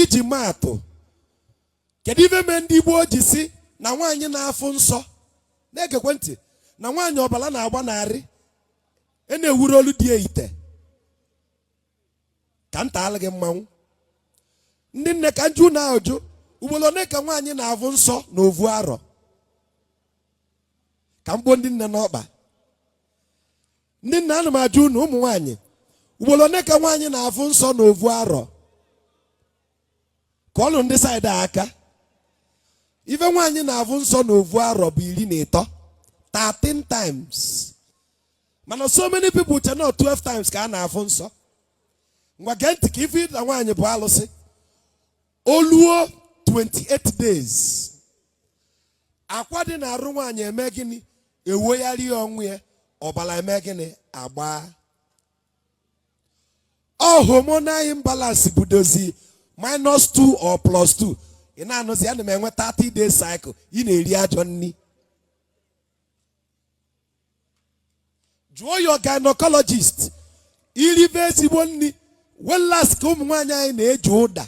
iji maa atụ kedu ive mee ndị Igbo ji sị na nwaanyị na-afụ nsọ na-egekwe ntị na nwaanyị ọbala na-agba n'arụ e na-ewuru olu dị ite ka nta alụ gị mmanwụ ndị nne ka njụ unu ajụ ugbolo one ka nwaanyị na-avụ nsọ na ovu arọ ka m kpọ ndị nne n'ọkpa ndị nne ana m ajụ unu ụmụ nwaanyị ugbolo one ka nwaanyị na-afụ nsọ na ovu arọ kụọlụ ndị side a aka ive nwaanyị na-afụ nsọ na ovu arọ bụ iri na ịtọ 13 times mana so many people che na 12 times ka a na-afụ nsọ ngwa gee ntị ka ị vụ na nwaanyị bụ alụsị o luo 28 days akwa dị na arụ nwaanyị eme gịnị ewoyarịa onwe ya ọbala eme gịnị agbaa ọ hormonal imbalance budozi minus 2 or plus 2 ị na-anụzi ana m enwe 30 days cycle ị na-eri ajọ nni jụọ your gynecologist i ribe ezigbo nni whereas ka ụmụ nwaanyị anyị na-eji ụda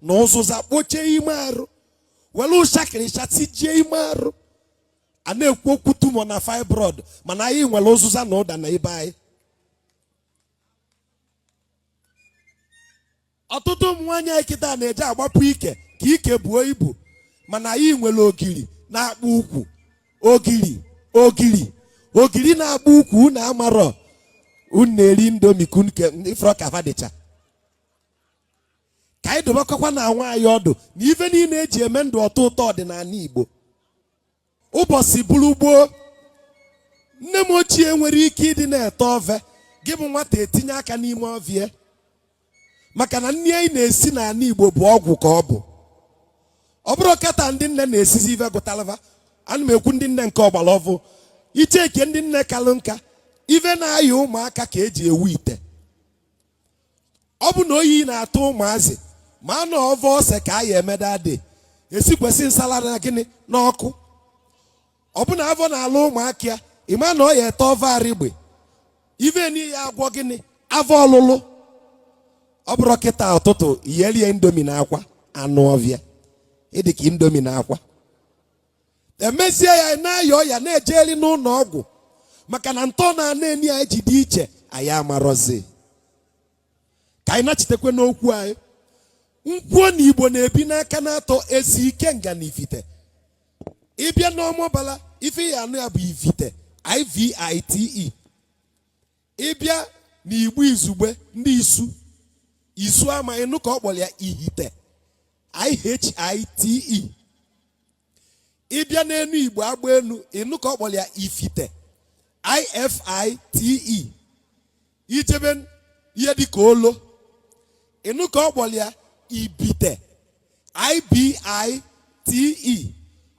na ụzụza kpochie ime arụ welu ụshakịrịsha tijie ime arụ a na-ekwu okwu tumor na fibroid mana anyị nwere ụzụza na ụda na ibe anyị ọtụtụ ụmụ nwaanyị anyị kịta na-eje agbapu ike ka ike buo ibu mana anyị nwere ogiri na-akpụ ukwu ogiri ogiri ogiri na-akpụ ukwu unu amarọ unu na-eri indomie ka unu ke ị fụrọ ka va dịcha ka anyị dụbakọkwanụ onwe anyị ọdụ na ive niine eji eme ndụ ọ tọọ ụtọ dị n'ana igbo ụbọsị bụrụ gboo nne m ochie nwere ike ịdị na-ete ove gị bụ nwata etinye aka n'ime ove ya maka na nni anyị na-esi n'ana Igbo bụ ọgwụ ka ọ bụ ọ bụrụ kịta ndị nne na-esizi ive gụtalụ va ana m ekwu ndị nne nke ọgbala ọvụụ icheke ndị nne kalụ nka ive na-aya ụmụaka ka eji ewu ite ọ bụ na oyi na-atụ ụmụazị ị ma na ọ ove ose ka a ya emeda dị esikwesị nsala na gịnị n'ọkụ ọ bụ na avọ na-alụ ụmụaka ya ị ma na ọ ya-ete ove arịgbe ive nị ya-agwọ gịnị avọ ọlụlụ ọ bụrụ kịta ụtụtụ iyelie indomie na akwa anụ ọvịa ị dị ka indomie na akwa emesie ya na-aya ọya na-ejeli n'ụnọ ọgwụ maka na ntọ na ana nị anyị ji dị iche anyị amarọzi ka anyị nachitekwe n'okwu anyị nkwuo na igbo na-ebi n'aka naatọ ezi ikenga na ivite ị bịa n'ọmabala ife ị ya-anụ ya bụ ivite ivite ịbịa na igbo izugbe ndị isu isu ama ịnụ ka ọ kpọlụ ya ihite ihite ịbịa n'enu igbo agba enu ịnụ ka ọ kpọlụ ya ifite ifite ijebe ihe dịka olo ịnụ ka ọ kpọlụ ya ibite ibite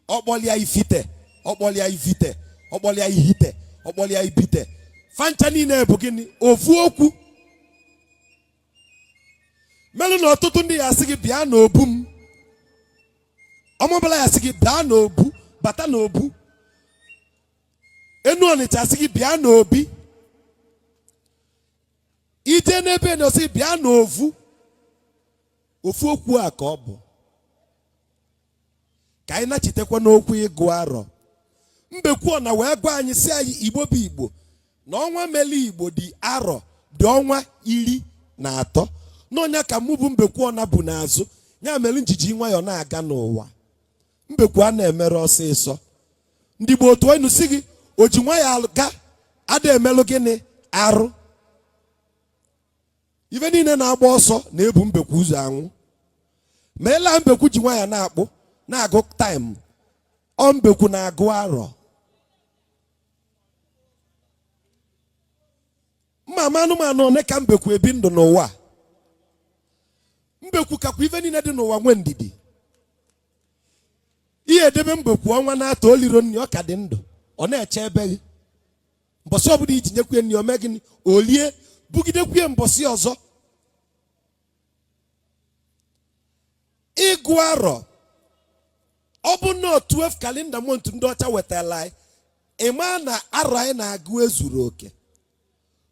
ọ kpọlụ ya ifite ọ kpọlụ ya ivite ọ kpọlụ ya ihite ọ kpọlụ ya ibite fancha niine bụ gịnị ofu okwu melụ na ọtụtụ ndị ya asị gị bịa n'obu m ọmabala ya asị gị bịa n'obu bata n'obu enu ọnịcha asị gị bịa n'obi ije n'ebe na asị gị bịa n'ovu ofu okwu a ka ọ bụ ka anyị nachitekwa n'okwu ịgụ arọ mbekwu ọ na wee gwa anyị sị anyị igbo bụ igbo na ọnwa mele igbo dị arọ dị ọnwa iri na atọ na ọ nya ka mụ bụ mbekwu ọ na bu n'azụ ya mele njiji nwayọọ na-aga n'ụwa mbekwu a na-emere ọsịsọ ndị igbo atụọ inu sị gị o ji nwayọọ aga ada emelụ gịnị arụ ife niine na-agba ọsọ na-ebu mbekwu ụzọ anwụ mana mbekwu ji nwayọọ na-akpụ na-agụ taịm ọ mbekwu na-agụ arọ mma ama anụmanụ na-aka mbekwu ebi ndụ n'ụwa mbekwu kakwa ife niine dị n'ụwa nwee ndidi ị ya edebe mbekwu ọnwa naatọ o liro nni ọ ka dị ndụ ọ na-echebe gị mbọsị ọbụla iji nyekwu ya nni o mee gịnị o lie bugidekwu ya mbọsị ọzọ ịgụ arọ ọ bụ na 12 calendar month ndị ọcha wetalụ anyị ịma na arọ anyị na-agụ ezuru oke